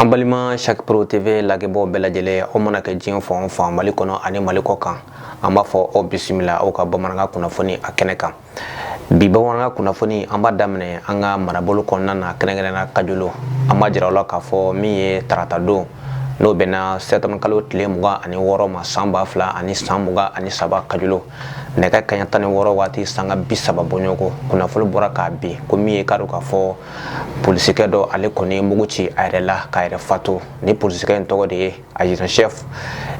An balima cheick pro tv lajɛbaw bɛɛ lajɛlen o mana kɛ diɲɛ fan fan mali kɔnɔ ani mali kɔ kan an b'a fɔ aw bisimila aw ka bamanankan kunnafoni a kɛnɛ kan bi bamanankan kunnafoni an b'a daminɛ an ka marabolo kɔnɔna na kɛrɛnkɛrɛnna kajolo an b'a jira aw la k'a fɔ min ye tarata don n'o bɛnna sɛtanburu kalo tile mugan ani wɔɔrɔ ma san ba fila ani san mugan ani saba kajolo nɛgɛ kanɲɛ tan ni wɔɔrɔ waati sanga bi saba bɔɲɔgɔn ko kunnafoni bɔra k'a bin ko min ye k'a dɔn k'a fɔ polisikɛ dɔ ale kɔni mugu ci a yɛrɛ la k'a yɛrɛ fatu ni polisikɛ in tɔgɔ de ye adjudant chef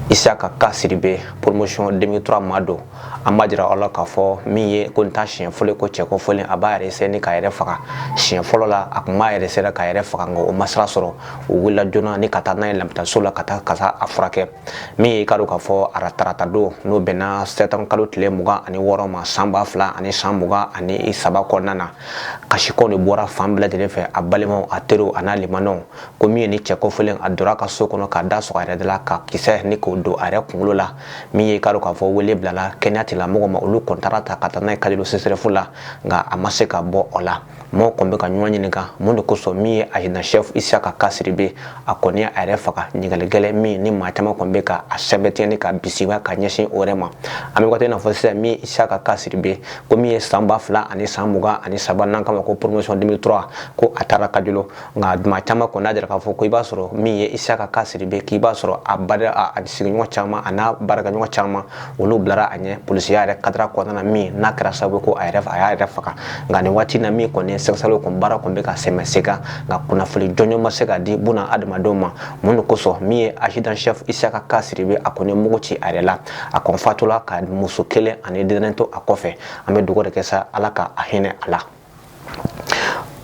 isaka kasiribe promotion 2003 ma don an b'a jira aw la k'a fɔ min ye ko nin t'a siɲɛ fɔlɔ ko cɛ kofɔlen a b'a yɛrɛ sɛni k'a yɛrɛ faga siɲɛ fɔlɔ la a tun b'a yɛrɛ sera k'a yɛrɛ faga nka o ma sira sɔrɔ o wulila joona ni ka taa n'a ye labitaniso la ka taa ka taa a furakɛ min ye i k'a dɔn k'a fɔ tarata don n'o bɛnna sɛtanburu kalo tile mugan ani wɔɔrɔ ma san ba fila ani san mugan ani saba kɔnɔna na kasikan de bɔra fan bɛɛ lajɛlen fɛ a balimaw a teriw a n'a limanaw ko min ye ni cɛ kofɔlen a donna ka so kɔnɔ k'a da sɔgɔ a yɛrɛ de la ka kisɛ ni k'o don a yɛrɛ kunkolo la min ye k'a dɔn k'a fɔ wele bilala kɛnɛya tigilamɔgɔw ma olu kɔni taar'a ta ka taa n'a ye kajolo sesɛrɛfu la nka a ma se ka bɔ o la mɔgɔw kɔni bɛ ka ɲɔgɔn ɲininka mun de kosɔn min ye adjudant chef isaka kasiribe a kɔni ye a yɛrɛ faga ɲininkali gɛlɛn min ni maa caman kɔni bɛ ka a sɛbɛntiɲɛni ka bisimila ka ɲɛsin o yɛrɛ ma an bɛ waati n'a fɔ sisan min isaka kasiribe ko min ye san ba fila ani san mugan ani saba n'an k'a ma ko promotion 2003 ko a taara kajolo nka tuma caman kɔni n'a jira k'a fɔ ko i b'a sɔrɔ min ye isaka kasiribe k'i b'a sɔrɔ a bada a sigiɲɔgɔn caman a n'a baarakɛɲɔgɔn caman olu bilara a ɲɛ polisiya yɛrɛ kadiri kɔnɔna na min n'a kɛra sababu ko a yɛrɛ a y'a yɛrɛ faga nka nin waati na min kɔni sɛgɛsɛgɛliw kɔni baara kɔni bɛ ka sɛmɛ se kan nka kunnafoni jɔnjɔn ma se ka di buna adamadenw ma mun de kosɔn min ye adjudant chef isaka kasiribe a kɔni mugu ci a yɛrɛ la a kɔni fatula ka muso kelen ani denyɛrɛnin to a kɔfɛ an bɛ dugawu de kɛ sa ala ka a hinɛ a la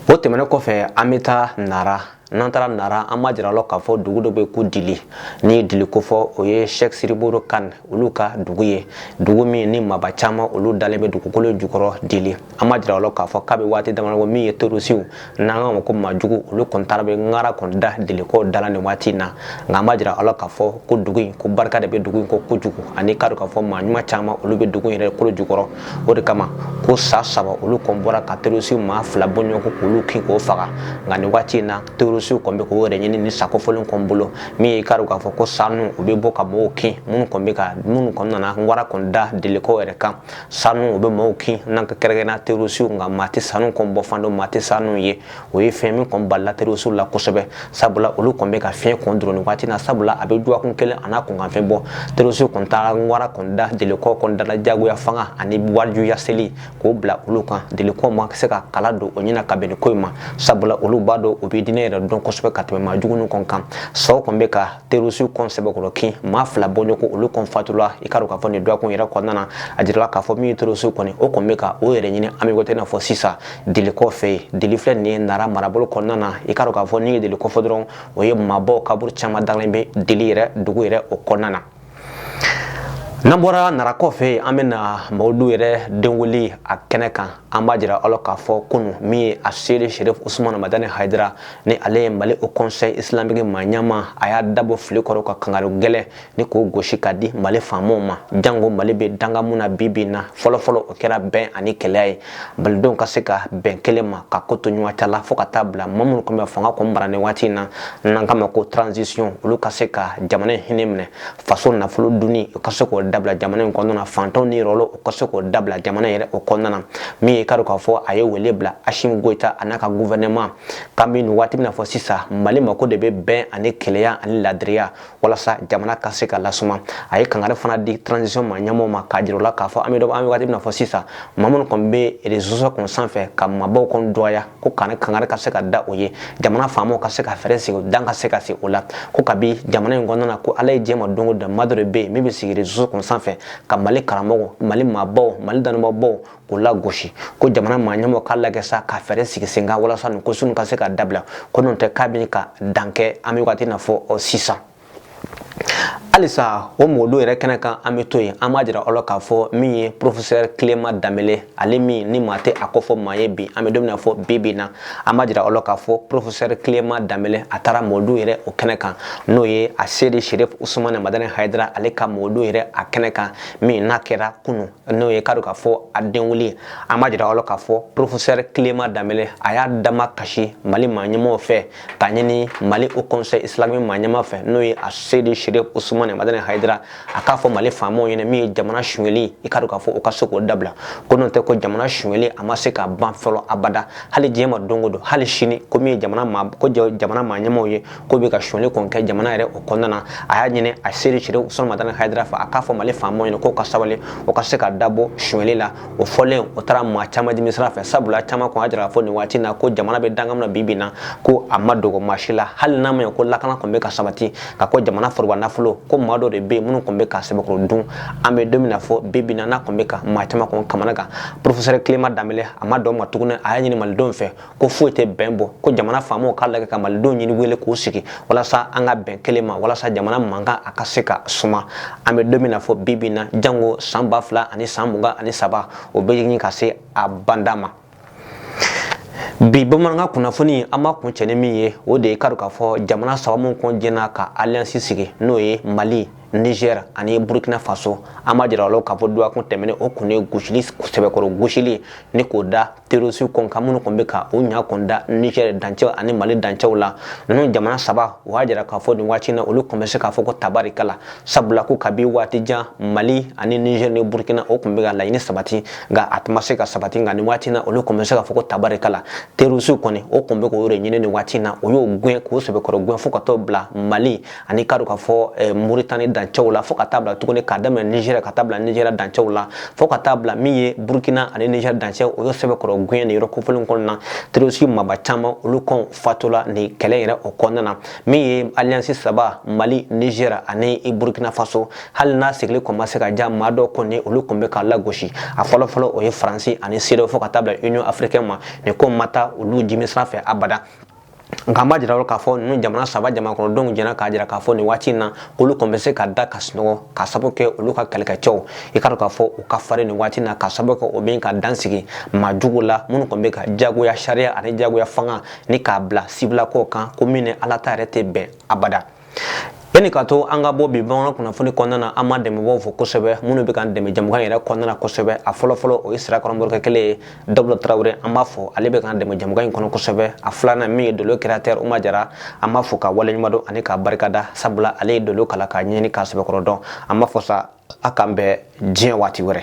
o tɛmɛnen kɔfɛ an bɛ taa nara n'an taara nara an b'a jira la k'a fɔ dugu dɔ bɛ ko dili n'i ye dili kofɔ o ye sɛk sidi modibo kane olu ka dugu ye dugu min ni maaba caman olu dalen bɛ dugukolo jukɔrɔ dili an b'a jira la k'a fɔ k'a bɛ waati damadɔ min ye terorisiw n'an k'a ma ko maajugu olu kɔni taara bɛ ŋara kɔni da dilikaw da la nin waati in na nka an b'a jira aw la k'a fɔ ko dugu in ko barika de bɛ dugu in ko kojugu ani k'a dɔn k'a fɔ maa ɲuman caman olu bɛ dugu in yɛrɛ kolo jukɔrɔ o de kama ko sa saba olu kɔn bɔra ka terorisiw maa fila bɔɲɔgɔn ko k'olu kin k'u faga nka nin waati in na terorisiw kɔn bɛ k'u yɛrɛ ɲini ni sa kofɔlen kɔn bolo min ye i k'a dɔn k'a fɔ ko sa ninnu bɛ bɔ ka mɔgɔw kin minnu kɔn bɛ ka minnu kɔn nana wara kɔn da dilikaw yɛrɛ kan sa ninnu bɛ mɔgɔw kin nka kɛrɛnkɛrɛnnenya terorisiw nka maa tɛ sa ninnu kɔn bɔ fan dɔn maa tɛ sa ninnu ye o ye fɛn min kɔn bala terorisiw la kosɛbɛ sabula olu kɔn bɛ ka fiɲɛ kɔn dɔrɔn waati na sabula a bɛ dɔgɔkun kelen a n'a kunkanfɛn bɔ terorisiw kɔn taara wara kɔn da dilikaw kɔn da la jagoya fanga ani wajibiya seli k'o bila olu kan dilikaw ma se ka kala don o ɲɛna ka bɛn ko in ma sabula olu b'a dɔn u bɛ diinɛ yɛrɛ dɔn kosɛbɛ ka tɛmɛ maa jugu kɔn kan saw kɔn bɛ ka terorisiw kɔn sɛbɛkɔrɔ kin maa fila bɔɲɔgɔn olu kɔn fatula i k'a dɔn k'a fɔ nin dɔgɔkun yɛrɛ kɔnɔna a jirala k'a fɔ min terorisiw kɔni o kɔn bɛ ka o yɛrɛ ɲini an bɛ waati n'a fɔ sisan dilikaw fɛ yen dili filɛ nin ye nara marabolo kɔnɔna na i k'a dɔn k'a fɔ n'i ye dili ko fɔ dɔrɔn o ye maaba kaburu caman dalen bɛ dili yɛrɛ dugu yɛrɛ o kɔnɔna na n'an bɔra nara kɔfɛ an bɛ na mawuludu yɛrɛ denwuli a kɛnɛ kan an b'a jira aw la k'a fɔ kunun min ye a seyidi sherif usumana madani hayidara ni ale ye mali haut conseil islamique maa ɲɛmaa a y'a dabɔ fili kɔrɔ ka kangari gɛlɛn ni k'o gosi ka di mali faamaw ma jango mali bɛ dankan min na bi bi in na fɔlɔfɔlɔ o kɛra bɛn ani kelenya ye malidenw ka se ka bɛn kelen ma ka ko to ɲɔgɔn ta la fo ka taa bila maa minnu kɔni bɛ fanga kɔni mara nin waati in na n'an k'u ma ko transisiɔn olu ka se ka jamana in hinɛ minɛ faso nafolo dunni u ka se k'o dabila jamana in kɔnɔna na fantanw niyɔrɔ u ka se k'o dabila jamana yɛrɛ o kɔnɔna na min ye k'a dɔn k'a fɔ a ye wele bila asimi goyita a n'a ka gufɛrɛnama k'an bɛ waati min na fɔ sisan mali mako de bɛ bɛn ani kelenya ani laadiriya walasa jamana ka se ka lasuma a ye kangari fana di transition maa ɲɛmaaw ma k'a jira u la k'a fɔ an bɛ dɔ an bɛ waati min na fɔ sisan maa minnu kɔni bɛ reseau kɔni sanfɛ ka maabaw kɔni dɔgɔya ko kangari ka se ka da o ye jamana faamaw ka se ka fɛɛrɛ sigi dan ka se ka sigi o la ko kabi jamana in kɔnɔna na ko ala ye diɲɛ ma don o don maa dɔ de bɛ yen min bɛ sigi reseau kɔni sanfɛ ka mali karamɔgɔw mali maabaw mali dɔnnibaabaw o lagosi ko jamana maa ɲɛmaaw k'a lajɛ sa ka fɛɛrɛ sigi sen kan walasa nin ko sugu ka se ka dabila ko n'o tɛ k'a bɛ ka dan kɛ an bɛ waati na fɔ ɔ, sisan halisa o mawuludu yɛrɛ kɛnɛ kan an bɛ to yen an b'a jira aw la k'a fɔ min ye porofesɛri kilema danbele ale min ni maa tɛ a kofɔ maa ye bi an bɛ don min na fɔ bi bi na an b'a jira aw la k'a fɔ porofesɛri kilema danbele a taara mawuludu yɛrɛ o kɛnɛ kan n'o ye a seyidi sherif usumani madani hayidara ale ka mawuludu yɛrɛ a kɛnɛ kan min n'a kɛra kunu n'o ye k'a dɔn k'a fɔ a denwuli an b'a jira aw la k'a fɔ porofesɛri kilema danbele a y'a damakasi mali maaɲɛmaw fɛ k'a ɲini mali haut conseil islamique maaɲɛma fɛ n'o ye a seyidi sherif usumani madani hayidara a k'a fɔ mali faamaw ɲɛna min ye jamana sonyɛli i k'a dɔn k'a fɔ o ka se k'o dabila ko n'o tɛ ko jamana sonyɛli a ma se ka ban fɔlɔ abada hali diɲɛ ma don o don hali sini ko min ye jamana ko jamana maaɲɛmaw ye k'u bɛ ka sonyɛli kɔni kɛ jamana yɛrɛ o kɔnɔna na a y'a ɲini a seyidi sherif usumani madani hayidara fɛ a k'a fɔ mali faamaw ɲɛna k'o ka sabali o ka se ka dabɔ sonyɛli la o fɔlen o taara maa caman dimi sira fɛ sabula caman kɔni y'a jira k'a fɔ nin waati in na ko jamana bɛ dankan min na bi bi na ko a ma dogo maa si la hali n'a ma ɲɛ ko lakana kɔni bɛ ka sabati nka ko jamana foroba nafolo ko maa dɔ de bɛ yen minnu kɔni bɛ k'a sɛbɛkɔrɔ dun an bɛ don min na fɔ bi bi na n'a kɔni bɛ ka maa caman kɔni kamanagan porofesɛri kilema danbele a ma dan o ma tuguni a y'a ɲini malidenw fɛ ko foyi tɛ bɛn bɔ ko jamana faamaw k'a lajɛ ka malidenw ɲini wele k'u sigi walasa an ka bɛn kelen ma walasa jamana mankan a ka se ka suma an bɛ don min na fo bi bi in na jango san ba fila ani san mugan ani saba o bɛ ɲini ka se a banda ma bi bamanankan kunnafoni an b'a kuncɛ ni min ye o de ye k'a dɔn k'a fɔ jamana saba minnu kɔn jɛnna ka alliance sigi n'o ye mali Niger ani Burkina Faso an b'a jira k'a fɔ dɔgɔkun tɛmɛnen o kɔn ye gosili sɛbɛkɔrɔ gosili ni k'o da terroriste kɔn kan minnu tun bɛ ka o ɲa kɔn da Niger dancɛw ani Mali dancɛw la ninnu jamana saba o y'a jira k'a fɔ nin waati na olu kɔn bɛ se k'a fɔ ko tabarikala sabula ko kabi waati jan Mali ani Niger ni Burkina o tun bɛ ka laɲini sabati nka a tun ma se ka sabati nka nin waati na olu kɔn bɛ se k'a fɔ ko tabarikala terroriste kɔni o tun bɛ k'o de ɲini nin waati na o y'o gɛn k'o sɛbɛkɔrɔ gɛn fo ka t'o bila Mali ani k'a dɔn k'a fɔ eh, Mauritanie dancɛw la fo ka taa bila tuguni k'a daminɛ Niger ka taa bila Niger dancɛw la fo ka taa bila min ye Burkina ani Niger dancɛ o y'o sɛbɛkɔrɔ gɛn nin yɔrɔ kofɔlen kɔnɔna na terroriste maaba caman olu kɔn fatula nin kɛlɛ yɛrɛ o kɔnɔna na min ye alliance saba Mali Niger ani Burkina Faso hali n'a sigili kɔn ma se ka ja maa dɔw kɔni olu tun bɛ k'a lagosi a fɔlɔfɔlɔ o ye Faransi ani CEDEAO fo ka taa bila Union africaine ma nin ko ma taa olu jimi sira fɛ abada nka an b'a jira k'a fɔ ninnu jamana saba jamanakɔnɔdenw jɛnna k'a jira k'a fɔ nin waati in na k'olu kɔni bɛ se ka da ka sunɔgɔ k'a sababu kɛ olu ka kɛlɛkɛcɛw ye k'a dɔn k'a fɔ u ka farin nin waati in na k'a sababu kɛ o bɛ ka dan sigi maa jugu la minnu kɔni bɛ ka jagoya sariya ani jagoya fanga ni k'a bila sibilakaw kan ko min ni ala ta yɛrɛ tɛ bɛn abada yanni ka to an ka bɔ bi bamanan kunnafoni kɔnɔna na an b'an dɛmɛbaaw fo kosɛbɛ minnu bɛ k'an dɛmɛ jamukan yɛrɛ kɔnɔna na kosɛbɛ a fɔlɔfɔlɔ o ye sirakɔrɔ morikɛ kelen ye dabula tarawele an b'a fo ale bɛ k'an dɛmɛ jamukan in kɔnɔ kosɛbɛ a filanan min ye dolo créateur uma jara an b'a fo k'a waleɲuman dɔn ani k'a barikada sabula ale ye dolo kalan k'a ɲɛɲini k'a sɛbɛkɔrɔ dɔn an b'a fɔ sa a k'an bɛn diɲɛ waati wɛrɛ